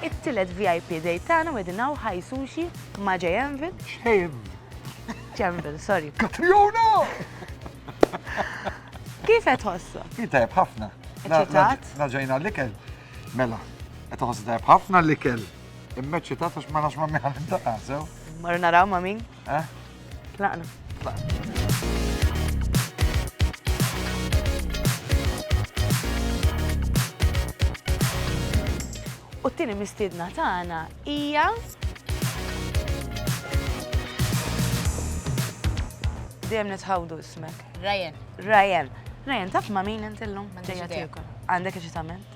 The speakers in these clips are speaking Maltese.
It-tielet VIP day tagħna qegħdin hawn High Sushi ma' J Anvil. J Anvil, sorry. Katriona! Kif qed ħossok? Hi tajb ħafna. Eċitat? Naġajna l-ikel. Mela, qed ħoss tajb ħafna l-ikel. Imma eċitat għax ma nafx ma' miħan intaqasew. Mar naraw ma' min? Eh? Tlaqna. U t-tieni mistiedna tagħna hija Dejjem nitħawdu ismek. Ryan. Ryan. Ryan, taf ma' min intillum? Ġejja tiekol. Għandek xi tagħmel?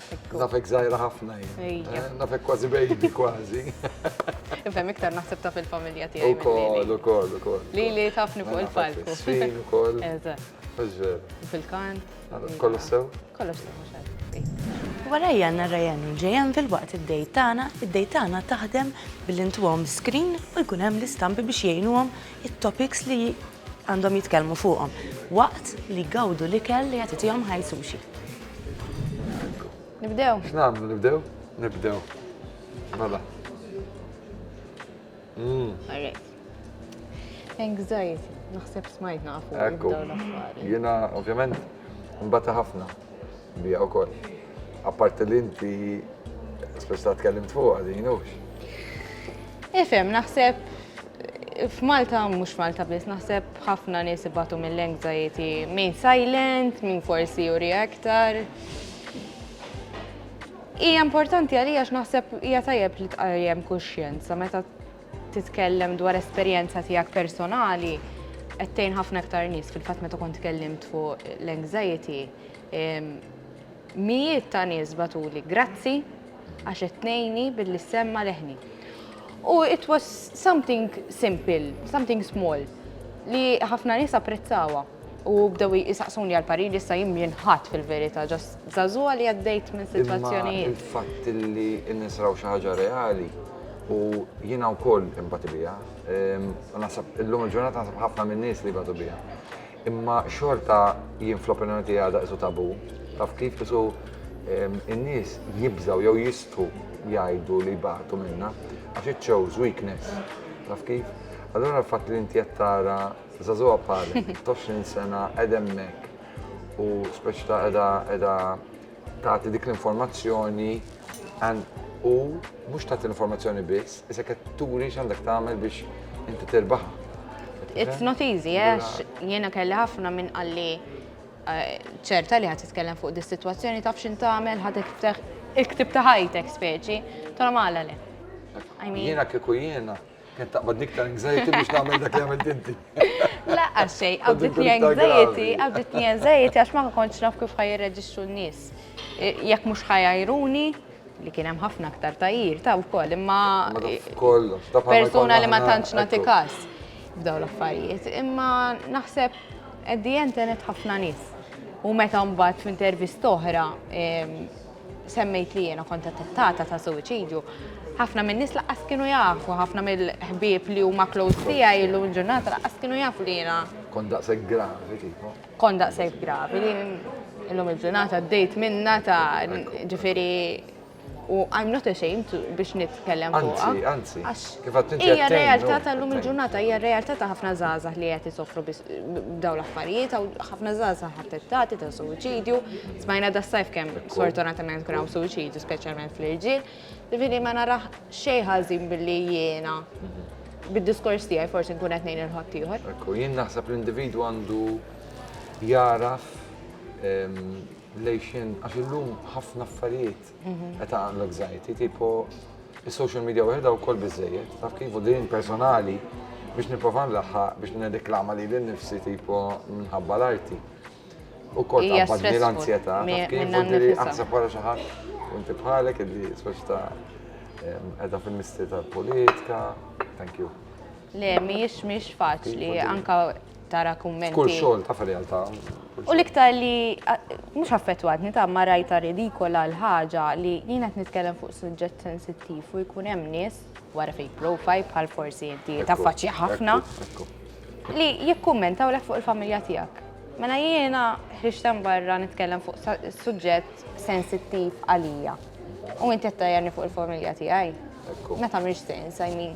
Nafek zaħira ħafna jien. Nafek kważi baby kważi. Ifhem iktar naħseb taf il-familja tiegħi. Ukoll, ukoll, ukoll. Li li tafni fuq il-palku. Sfin ukoll. Fil-kant. Kollu sew? Kollu sew, mhux Warajja għanna Ryan u JM fil-waqt id-dej tagħna, id-dej tagħna taħdem billi ntuhom screen u jkun hemm l-istampi biex jgħinuhom it-topics li Għandhom jitkellmu fuqhom waqt li jgawdu l-ikel li qed itihom High Sushi. Nibdew? X'nagħmlu nibdew? Nibdew. Mela. Mm. All right. Anxiety, naħseb smajtna fuq. Ekku. Jiena ovvjament mbata ħafna. Bija wkoll. Apparti li inti speċta tkellimt fuq din hux. Ifhem, naħseb f'Malta mhux Malta biss naħseb ħafna nies ibatu mill-anxiety, min silent, min forsi juri aktar. Hija importanti għalija x'naħseb hija tajjeb li tqajjem kuxjenza meta titkellem dwar esperjenza tiegħek personali qed tgħin ħafna iktar nies fil-fatt meta kont tkellimt fuq l-anxiety. Mijiet ta' nies batuli, grazzi għax qed tnejni billi semma leħni. U it was something simple, something small li ħafna nies apprezzawa. U bdew jisaqsuni għal parir issa jien mien ħadd fil-verità, ġast żagħżugħa li għaddejt minn sitwazzjonijiet. Imma il-fatt li n-nies raw xi ħaġa reali u jiena wkoll inbati biha. Ehm, u naħseb illum il-ġurnata naħseb ħafna minn nies li jbatu biha. Imma xorta jien fl-opinjoni tiegħi għadha isu tabu. Taf kif isu ehm, in-nies jibżaw jew jistħu jgħidu li jbatu minna għax it shows weakness. Taf kif? Allora l-fatt li inti qed tara Zazuha bħali, 20 sena qed hemmhekk u speċi ta' qiegħda qiegħda tagħti dik l-informazzjoni u mhux tagħti l-informazzjoni biss, isek qed turi x'għandek tagħmel biex inti tirbaħ. It's not easy, għax jiena kelli ħafna minn qalli eh, ċerta li ħad titkellem fuq dis situazzjoni taf xin tagħmel ħad iktib ta' ħajtek speċi, tara mala le. Jiena kieku jiena Kien taqbad niktar anxiety biex nagħmel dak li għamilt inti. Laqqa xej, qabditni anxiety, qabditni anxiety għax ma kontx naf kif ħaj jirreġixxu n-nies. Jekk mhux ħajajruni, li kien hemm ħafna aktar tajjir ta' wkoll, imma persuna li ma tantx nagħti każ f'daw l-affarijiet. Imma naħseb at the end tenet ħafna nies. U meta mbagħad f'intervist oħra Semmejt li jiena kont attettata ta' suwiċidju. Ħafna min-nies laqqas kienu jafu, ħafna mill-ħbieb li huma close tiegħi illum il-ġurnata laqqas kienu jafu li jiena. Kont daqshekk gravi kieku. Kont daqshekk gravi li illum il-ġurnata għaddejt minnha ta' ġifieri u I'm not ashamed biex nitkellem fuqha. Anzi, anzi. Kif għad tinti Hija realtà tal-lum il-ġurnata, hija realtà ta' ħafna żgħażagħ li qed isofru b'dawn l-affarijiet, ħafna żgħażagħ attettati ta' suwiċidju. Smajna da' sajf kemm sfortunatament kien hawn suwiċidju, speċjalment fl-irġiel. Ġifieri ma narax xejn ħażin billi jiena bid-diskors tiegħi forsi nkun qed ngħin il-ħadd ieħor. Ekku, jien naħseb l-individwu għandu jaraf lejxin għax illum ħafna affarijiet Meta għandlu anxiety, tipo il-social media wieħed u kol bizzejiet, taf kif din personali biex niprofa nlaħħa biex nediklama li l-nifsi tipo minħabba l-arti. U kol tabbadni l-anzjeta, taf kif u diri għansa para xaħat, unti bħalek, id-di soċta edha fil-misti tal-politika, thank you. Le, mhijiex mhijiex faċli anke tara kummenti. F'kull xogħol taf ir-realtà. U l-iktar li mhux affettwatni ta' ma rajtha ridikola l-ħaġa li jien qed nitkellem fuq suġġett sensittiv u jkun hemm nies wara fake profile bħal forsi inti taffaċċja ħafna li jikkummentawlek fuq il-familja tiegħek. Mela jiena ħriġt hemm barra nitkellem fuq suġġett sensittiv għalija u inti qed tgħajjarni fuq il-familja tiegħi. Meta m'iniex sens, I mean.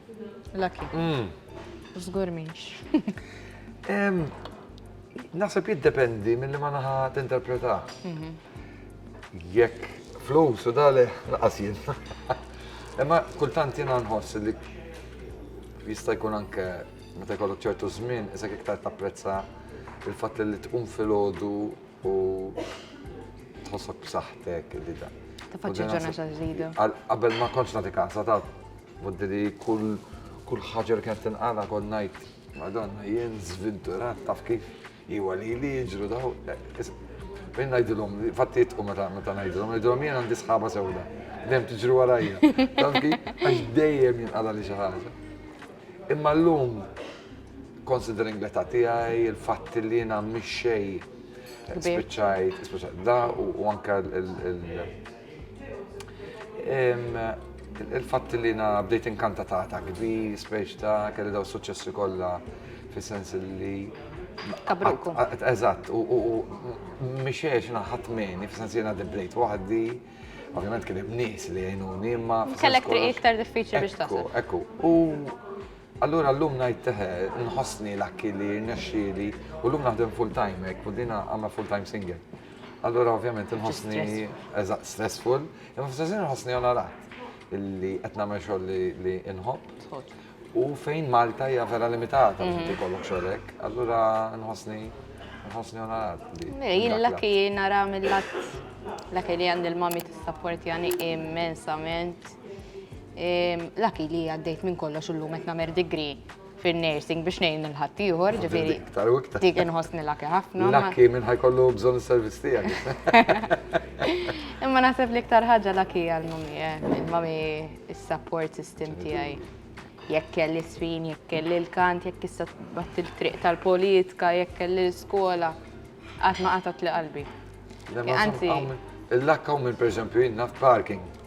Lucky. Mm. Żgur minx. Naħseb jiddependi mill-li ma naħa t-interpreta. Mhm. Jekk flus u dali, laqas jien. Imma kultant jiena nħoss li jista' jkun anke meta jkollok ċertu żmien, issa iktar tapprezza il-fatt li tqum filgħodu u tħossok b'saħħtek li da. Tafaċċi ġurnata ġdida. Qabel ma kontx nagħti kasa ta' Fddi li kull kull ħaġa li kienet tinqala kont ngħid Madonna jien żvinturat taf kif iwa li li jiġru daw. Min ngħidilhom, fatti jitqu meta meta ngħidilhom, ngħidilhom jien għandi sħaba sewda. Dejjem tiġri warajja. Taf kif għax dejjem jinqala li xi ħaġa. Imma llum considering l-età tiegħi, il-fatt li jiena mhix xejn spiċċajt, spiċċajt da u anke il- Il-fatt li na bdejt inkanta ta' ta' kbir, speċ ta' kelli daw suċċessi kollha fis-sens li Kabruku. Eżatt, u mixiex naħat meni, fis-sens li na bdejt waħdi, ovvjament kien hemm nies li jgħinuni, imma. Kellek triq iktar diffiċli biex tasal. Ekku, u allura llum ngħid teħe, nħossni l-akki li rnexxieli u llum naħdem full-time hekk, u dina għamla full-time single. Allura ovvjament inħossni eżatt stressful, imma fl-istess inħossni onorat illi qed nagħmel xogħol li inħobb. U fejn Malta hija vera limitata biex inti kollok xogħolek, allura nħossni nħossni onorat. Jien l-laki nara mill-lat l-laki li għandi l-mami t-sapporti għani immensament. Laki li għaddejt minn kollox u l-lum etna mer digri. fin-nursing biex ngħin lil ħaddieħor, ġifieri. Iktar u iktar. Dik inħossni laki ħafna. Laki minn ħajkollu bżonn is-servizz tiegħek. Imma naħseb li iktar ħaġa laki għal mami, eh, mami is-support system tiegħi. Jekk kelli sfin, jekk kelli l-kant, jekk issa bat il-triq tal-politika, jekk kelli l-skola, qatt ma qatat li qalbi. Anzi. Il-lakka u minn pereżempju jien naf parking.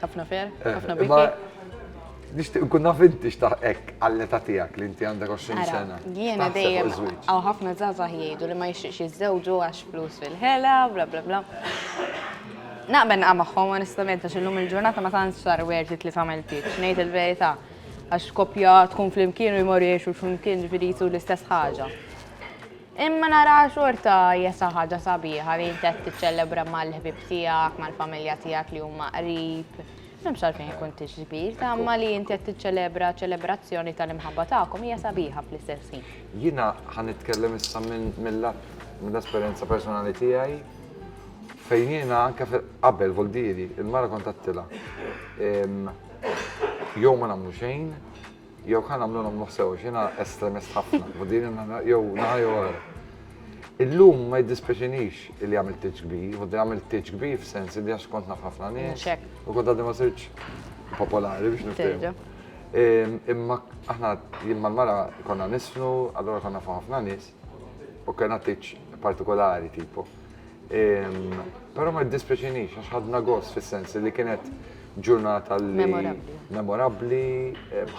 Ħafna fer, eh, ħafna biki. Nishtiq nkun naf inti xtaħ ek għall-età tiegħek li inti għandek 20 sena. Jiena dejjem għaw ħafna żgħażagħ jgħidu li ma jixtieqx jiżżewġu għax flus fil-ħela, bla bla bla. Naqben qa' magħhom onestament għax illum il-ġurnata ma tantx sar werti li tagħmel pitch, ngħid il-verità. Għax kopja tkun flimkien u jmorru jgħixu flimkien ġifieri l-istess ħaġa. Imma nara xorta hija xi ħaġa sabiħa li inti qed tiċċelebra mal-ħbieb tiegħek, mal-familja tiegħek li huma qrib. M'hemmx għalfejn ikun tiġbir, ta' imma li inti qed tiċċelebra ċelebrazzjoni tal-imħabba tagħkom hija sabiħa fl-istess ħin. Jiena ħa nitkellem issa mill-lat mill-esperjenza personali tiegħi fejn jiena anke qabel Voldieri, il-mara kont għedtilha jew ma nagħmlu xejn, Jew ħa nagħmlu nagħmluh sew, x'jiena estremist ħafna, u din jew naħa jew oħra. Illum ma jiddispjaċinix li għamilt tiġ kbir, u għamilt tiġ kbir f'sens li għax kont naf ħafna nies. U kont għaddi ma sirċ popolari biex nifhem. Imma aħna jien mal-mara konna nisfnu, allora konna fuq ħafna nies, u kena tiġ partikolari tipo. Però ma jiddispjaċinix għax ħadna gost fis-sens li kienet ġurnata li memorabbli. Memorabbli,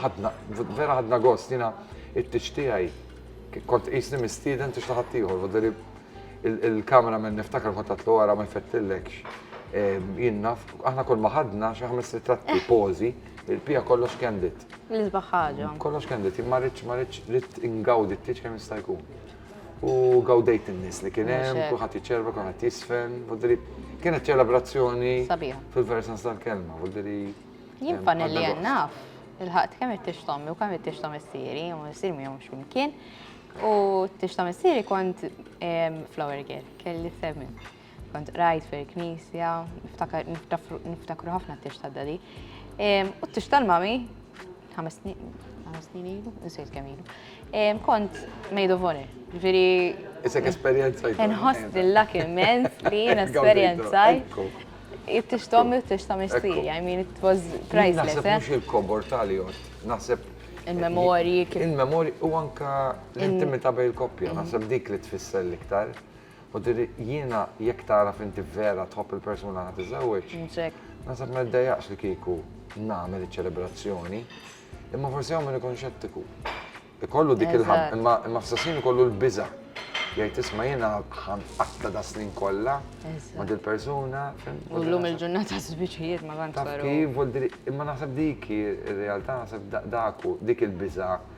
ħadna vera ħadna gost jiena it-tiċ tiegħi kont qisni mistieden tix taħat ieħor, voderi il-kamera minn niftakar kont għatlu għara ma jfettilekx. Jien naf, aħna kol ma ħadna xi ħames ritratti pożi, il-pija kollox kendit. L-isbaħ ħaġa. Kollox kendit, ma rridx ma rridx ingawdi t-tiċ kemm jista' jkun. u gawdejt in-nies li kien hemm, kulħadd jiċċerva, kulħadd jisfen, voldiri kienet ċelebrazzjoni fil-versans tal-kelma, voldiri. Jien panelli naf, il-ħadd kemm qed tixtom u kemm qed tixtom is-siri, u s-sir mi jomx mkien. U tixtom is-siri kont flower girl, kelli femmin. Kont qrajt fil-knisja, niftakru ħafna t-tix ta' dadi. U t-tix tal-mami, ħames snin ilu, nsejt kemm ilu. Kont made of honor. Ġifieri. Isek esperjenza. Nħoss dillak immens li jien esperjenzaj. It-tix tommi u t-tix ta' missieri. I mean, it was priceless. Naħseb eh? mhux il-kobor tal naħseb il-memorji. Il-memorji u anka l-intimità bejn il-koppja, naħseb dik li tfisser l-iktar. U tiri jiena jekk tagħraf inti vera tħobb il-persuna ħa tiżżewweġ. Naħseb ma jiddejjaqx li kieku nagħmel iċ-ċelebrazzjoni. Imma forsi hawn min ikun xettiku. Ikollu dik il-ħab, imma imma fl-istess ħin ikollu l-biża'. Jgħid isma' jiena ħa nqatta' das-snin kollha ma' dil-persuna. U llum il-ġurnata żwiġijiet ma tantx. Taf kif, u tiri imma naħseb dik hi r-realtà, naħseb dak hu, dik il-biża'.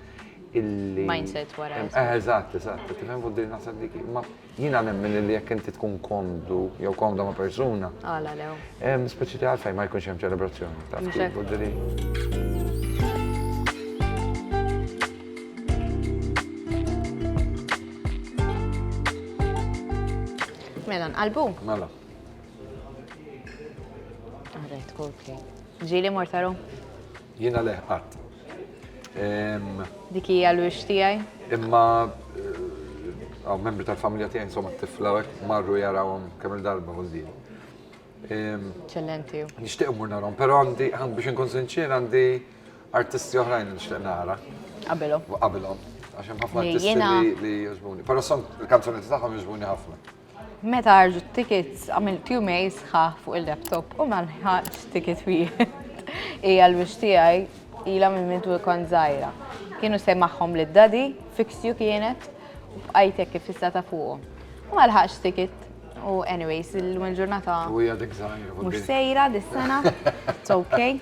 illi. Mindset wara. Eh, eżatt, eżatt, tifhem fuq din naħseb dik. Ma jiena nemmen illi jekk inti tkun komdu jew komda ma' persuna. Għala lew. Hemm speċi ta' għalfejn ma jkunx hemm ċelebrazzjoni. Taf kif ġiri. Mela, nqalbu? Mela. Għarret, Coldplay. Ġili mortaru? Jiena leh qatt. Dik hija l-wiċċ tiegħi. Imma għaw membri tal-familja tiegħi insomma t-tifla hekk marru jarawhom kemm il-darba għożdin. Ċellenti. Nixtieq mur narhom, però għandi biex inkun sinċier għandi artisti oħrajn nixtieq nara. Qabilhom. Qabilhom. Għax hemm ħafna artisti li jogħġbuni. Però son il-kanzunetti tagħhom jogħġbuni ħafna. Meta ħarġu t-tickets għamilt jumej sħaħ fuq il-laptop u ma nħaġ ticket wieħed. Hija l-wiċċ tiegħi ilha minn minn tu kont żgħira. Kienu sejmaħhom lid daddy, fixju kienet, u bqajt hekk iffissata fuqhom. U ma lħaqx ticket u anyways illum il-ġurnata. U hija dik żgħira. Mhux sejra dis-sena. It's okay.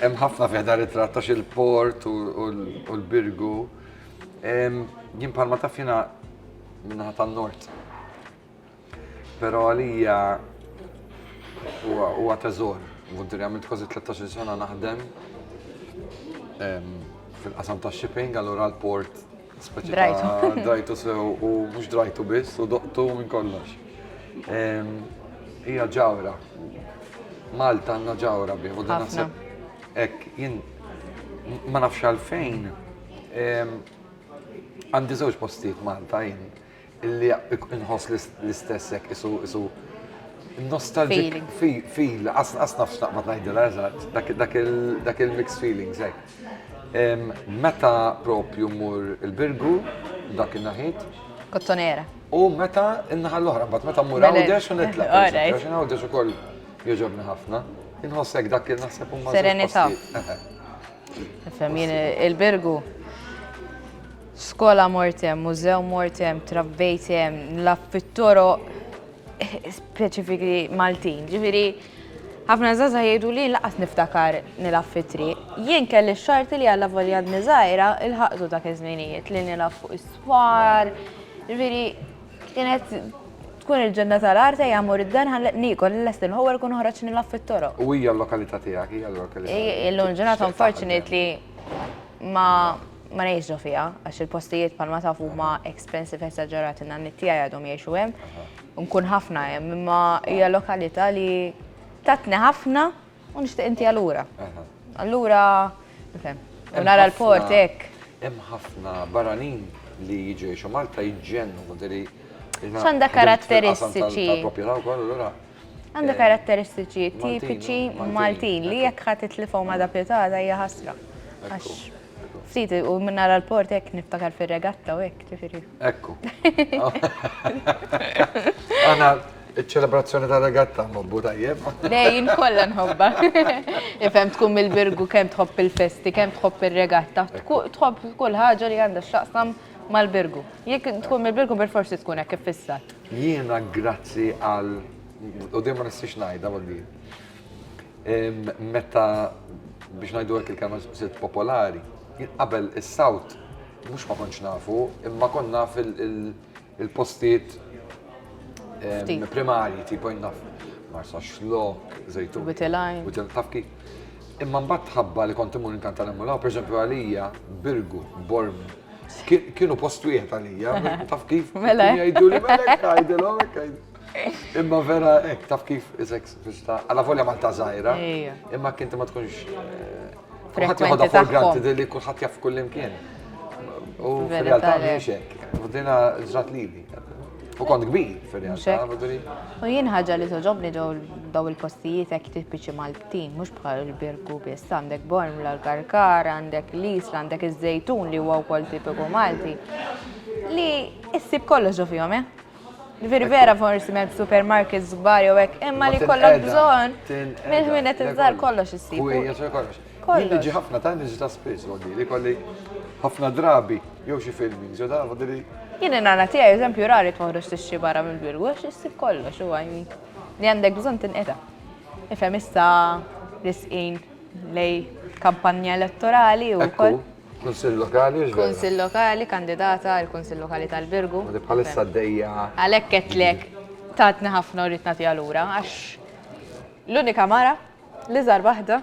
Hemm ħafna fih dan it-tratt għax il-port u l-birgu. Jien bħalma taf jiena minnaħa tan-nord. Però għalija huwa teżor. Vuntiri għamilt kważi 13 sena naħdem fil-qasam ta' shipping, allura l-port Drajtu. Drajtu sew u mhux drajtu biss u doqtu minn kollox. Hija ġawra. Malta għandna ġawra bih u dan naħseb hekk jien ma nafx għalfejn għandi żewġ postijiet Malta jien. Illi inħoss l-istess hekk isu isu nostalgic feel, qas nafx naqbad ngħidilha eżatt, dak il-mixed feelings hekk. Meta propju mur il-Birgu, dak il-naħit. Kottonera. U meta in-naħa l-oħra, bat meta mur għawdex u nitla. Għax għawdex ukoll jogħġobni ħafna. Inħossek dak il-naħseb u Serenità. Fem jien il-Birgu. Skola mortem, mużew mortem, trabbejtem, nlaf fit-toro speċifiki Maltin. Ġifieri, ħafna zaza jgħidu li laqas niftakar nilaf fit-triq. Jien kelli xarti li għalla volja dni żgħira il-ħaqtu dak iż-żminijiet li nilaf fuq is-swar. Ġifieri, Kienet tkun il-ġenna tal-art ejja mur id-dar ħalleq niekol il-lest il-ħowwar kun ħoraġ nilgħab fit-toroq. U hija l-lokalità tiegħek, hija l-lokalità. Illum il-ġurnata unfortunately ma ma ngħix ġo fiha għax il-postijiet bħalma tafu huma expensive esaġerati n-nanniet tiegħi għadhom jgħixu hemm. Nkun ħafna hemm imma hija lokalità li tatni ħafna U nixtieq inti allura. Allura, nifhem. U nara l-port hekk. Hemm ħafna barranin li jiġu jgħixu Malta jġennu, konteri. X'għandha karatteristiċi? Għandha karatteristiċi tipiċi Maltin li jekk ħadd itlifhom għadha pjutata hija ħasra. Ftit, u minn nara l-port hekk niftakar fir-regatta u hekk, ġifieri. Ekku. Għana ċ-ċelebrazzjoni ta' regatta nħobbu tajjeb. Dejjin kollha nħobba. Ifhem tkun mill-birgu kemm tħobb il-festi, kemm tħobb ir-regatta, tħobb kull ħaġa li għandha x'taqsam mal-birgu. Jekk tkun mill-birgu per forsi tkun hekk iffissat. Jiena grazzi għal u dejjem ma nistax ngħidha ma' din. Meta biex ngħidu hekk il-kelma sirt popolari, qabel is-South mhux ma kontx nafu, imma kont naf il-postijiet primarji tipo naf Marsa Xlok, Zejtun. Witilajn. Witilajn taf kif. Imma mbagħad tħabba li kont imur inkanta l mulaw, pereżempju għalija, Birgu, Borm, kienu post wieħed għalija, taf kif. Mela. Jgħidu li mela jgħidilhom Imma vera hekk taf kif iżek Vista, għala volja Malta zaħira, imma kinti ma tkunx. Kulħadd jħodha for granted li kulħadd jaf kull imkien. U fil-realtà mhix hekk. U dina ġrat lili. U kont kbir fil-realtà. U jien ħaġa li toġobni ġew daw il-postijiet hekk tipiċi Maltin, mhux bħal il-Birku biss, għandek Borm l-Karkar, għandek l-Isla, għandek iż-Żejtun li huwa wkoll tipiku Malti. Li issib kollox ġo fihom, eh? Virvera forsi ma' supermarkets żgbar jew hekk, imma li kollok bżonn minn minn qed iżgħar kollox issib. Kollox. Kollox. ħafna ta' niġi ta' spiss, għoddi li kolli ħafna drabi jew xi film jew da għoddi li. Jien nana tiegħi eżempju rari toħroġ tixxi barra mill-birgu għax issib kollox u għajni. Li għandek bżonn tinqeda. Ifhem issa l-isqin lej kampanja elettorali u koll. Kunsill Lokali, mhux vera? Kunsill Lokali, kandidata għal Kunsill Lokali tal-Birgu. Li bħalissa għaddejja. Għalhekk qedtlek tatni ħafna u rrid nagħtiha lura għax l-unika mara li żar waħda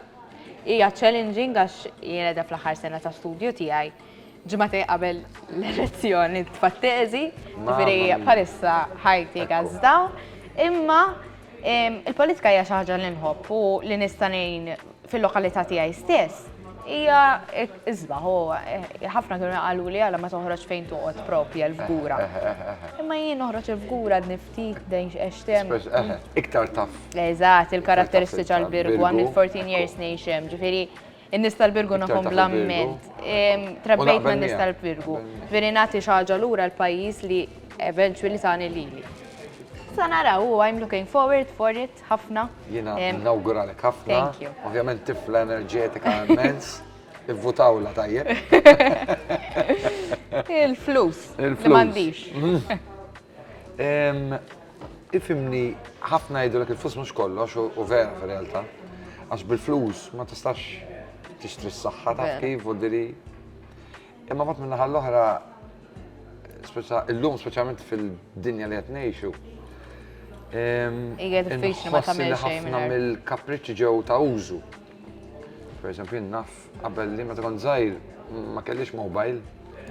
hija challenging għax jiena da fl-aħħar sena ta' studju tiegħi ġimgħatej qabel l-elezzjoni tfattezi, ġifieri bħalissa ħajti gazda, imma il-politika hija xi ħaġa li nħobb u li nista' ngħin fil-lokalità tiegħi stess, hija isbaħ u ħafna kienu jaqalu li għala ma toħroġ fejn toqgħod propja l-fgura. Imma jien noħroġ il-fgura niftit dejn x'extem. Iktar taf. Eżatt, il-karatteristiċi għall-birgu għam il-14 years nation, ġifieri n-nies tal-birgu nagħhom blamment. Trabbejt ma' nies tal-birgu. Veri nagħti xi ħaġa lura l-pajjiż li eventually tani lili. Sa naraw, I'm looking forward for it. ħafna. Jiena nawguralek ħafna. Ovvjament tifla enerġetika immens. Ivvutawla tajjeb. Il-flus. Il-flus. Ifimni ħafna jgħidu l il-flus mhux kollox u vera fir-realtà. Għax bil-flus ma tistax tixtri s-saħħa ta' kif u diri. Imma bat minnaħa l-oħra, illum speċjalment fil-dinja li qed ngħixu, Ija diffiċli ma tagħmel xejn. Ħafna mill-kapriċċi ġew ta' użu. Per eżempju, naf qabel li ma tkun żgħir ma kellix mobile.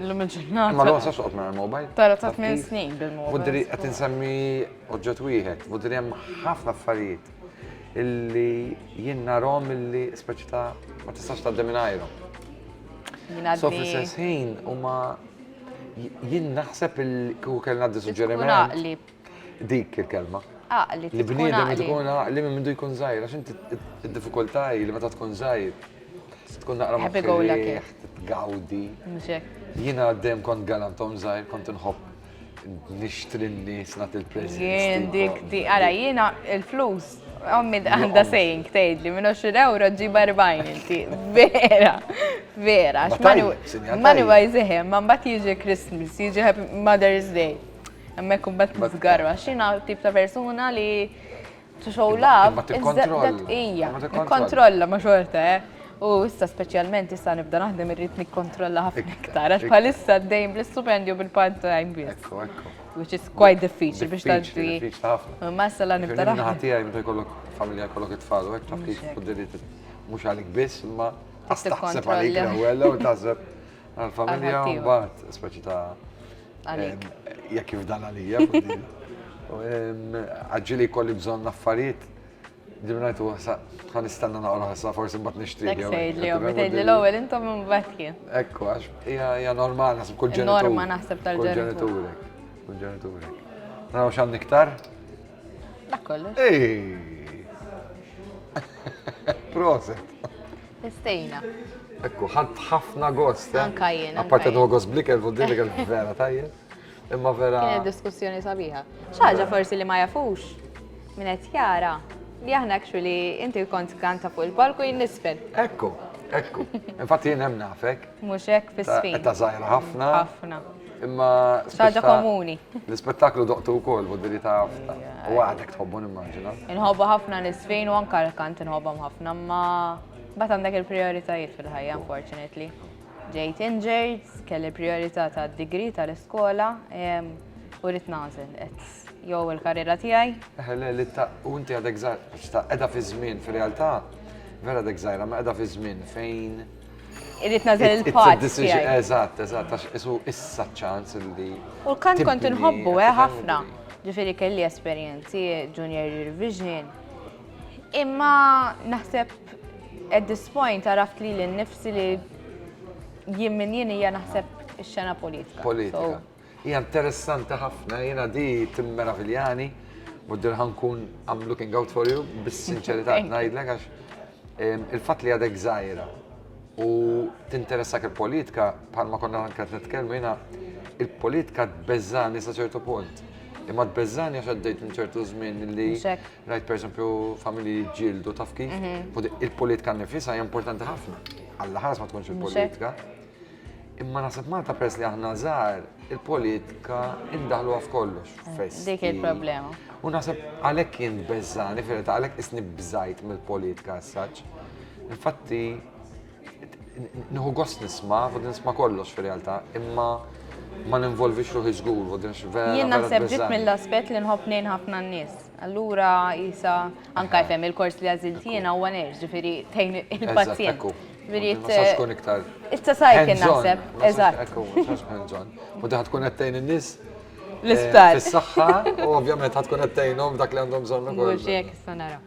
L-lum il-ġurnata. Ma l-għon sa soqt ma l-mobile. Tara ta' 8 snin bil-mobile. Budri qed insemmi oġġett wieħed, budri hemm ħafna affarijiet illi jien narhom illi speċi ta' ma tistax tgħaddi minn So fl-istess ħin huma jien naħseb il-ku kellna di suġġeriment. Dik il-kelma. Aqli. Li bniedem tkun aqli minn mindu jkun żgħir, għax inti d-diffikultà li meta tkun żgħir tkun naqra ma tgawdi. Jiena għaddejjem kont galantom żgħir, kont nħobb Nixtri n-nies nagħti l-preżent. Jien dik di, ara jiena il-flus Ommi għanda sejn ktejt li minn 20 euro ġiba 40 inti. Vera, vera. Manu għajzihem, man bat jiġi Christmas, jiġi Mother's Day. Għammek un bat t-zgarwa. Xina tip ta' persona li To show love. Imma tikkontrolla. Ija, tikkontrolla ma xorta, eh. U issa speċjalment issa nibda naħdem irrid nikkontrolla ħafna iktar. Għax bħalissa dejjem bl-istupendju bil-part time biss. Ekku, ekku. Which is quite difficile biex tgħaddi. Diffiċli ħafna. Ma issa la nibda naħdem. Ħati għaj meta jkollok familja jkollok it-tfal, u taf kif fuddilit mhux għalik biss, imma taħseb għalik l-ewwel u taħseb għal-familja u mbagħad speċi ta' għalik. Jekk jifdal għalija. Għagġili kolli bżon naffariet, dimrajtu għasa, għan istanna naqra għasa, forsi mbat nishti. Ek sejd li għom, sejd li l-għol, intom minn batki. Ekku, għax, hija normal, naħseb kull ġenitur. Norma naħseb tal-ġenitur. Kull ġenitur. Naraw xan niktar? Dak kollu. Proset. Istejna. Ekku, ħadd ħafna gost. Eh? Anka jien. Apparti għu gost blikel, u dilik vera tajjeb. Imma vera. Kienet diskussjoni sabiħa. ċaġa forsi li ma jafux minn qed jara li aħna actually inti kont kanta fuq il-palku jien nisfel. Ekku, ekku. Infatti jien hemm nafek. Mhux hekk fis-sfin. Ta' żgħira ħafna. Ħafna. Imma. Xi ħaġa komuni. L-ispettaklu doqtu wkoll f'Oddili ta' Għafta. U għadek tħobbu nimmaġina. Inħobbu ħafna nisfin u anke l-kant inħobbhom ħafna, imma mbagħad għandek il-prijoritajiet fil-ħajja unfortunately. Ġejt injured, kelli l-prijorità tad-degree tal-iskola u rrid nagħżel jew il-karriera tiegħi. Eħe le li ta' u inti għadek żgħira, qiegħda fiż-żmien fir-realtà vera għadek żgħira, imma qiegħda fiż-żmien fejn Irrid nażel il-part. Eżatt, eżatt, għax isu issa ċans li. U l-kant kont inħobbu, eh, ħafna. Ġifieri kelli esperjenzi junior revision. Imma naħseb at this point għaraft li l-nifsi li jien minn jien hija naħseb ix-xena politika. Politika. Hija interessanti ħafna, jiena di timmeraviljani, muddir ħankun I'm looking out for you, bis-sinċerità ngħidlek għax il-fatt li għadek żgħira u tinteressak il-politika bħalma konna anke qed nitkellmu jiena il-politika tbeżżani sa ċertu punt. Imma tbeżżani għax għaddejt minn ċertu żmien li rajt pereżempju familji ġildu taf kif, mhm. il-politika nifisha hija importanti ħafna. Alla ħares ma tkunx il-politika. Imma nasib Malta pers li aħna żgħar il-politika indaħluha f'kollox fest. Dik il-problema. U nasib għalhekk jien beżżani fil għalhekk isni bżajt mill-politika as-saċ. Infatti nħu gost nisma, u nisma kollox fil-realtà, imma ma ninvolvix ruħi żgur, u din vera. Jien naħseb ġit mill-aspett li nħobb nejn ħafna n-nies. Allura jisa anka jfem il-kors li għażiltina u għanex, ġifieri tejn il-pazjent. Mirit. Sax tkun iktar. Issa sajkin naħseb. Eżatt. U daħt tkun għattejn in-nis. L-isptar. Eh, Is-saxħa, u ovvjament għat tkun għattejnom dak li għandhom bżonn ukoll. Mhux jekk issa nara.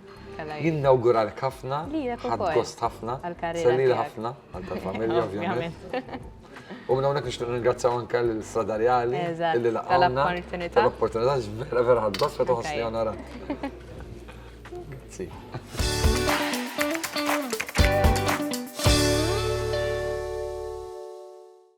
Jinnawgura l-kafna, ħad gost ħafna, salli ħafna, għal familja ovvjament. U minn hawnhekk nixtieq ningrazzjaw anke lil Strada Reali li laqgħuna tal-opportunità vera vera ħadd gost meta ħossni onorat. Grazzi.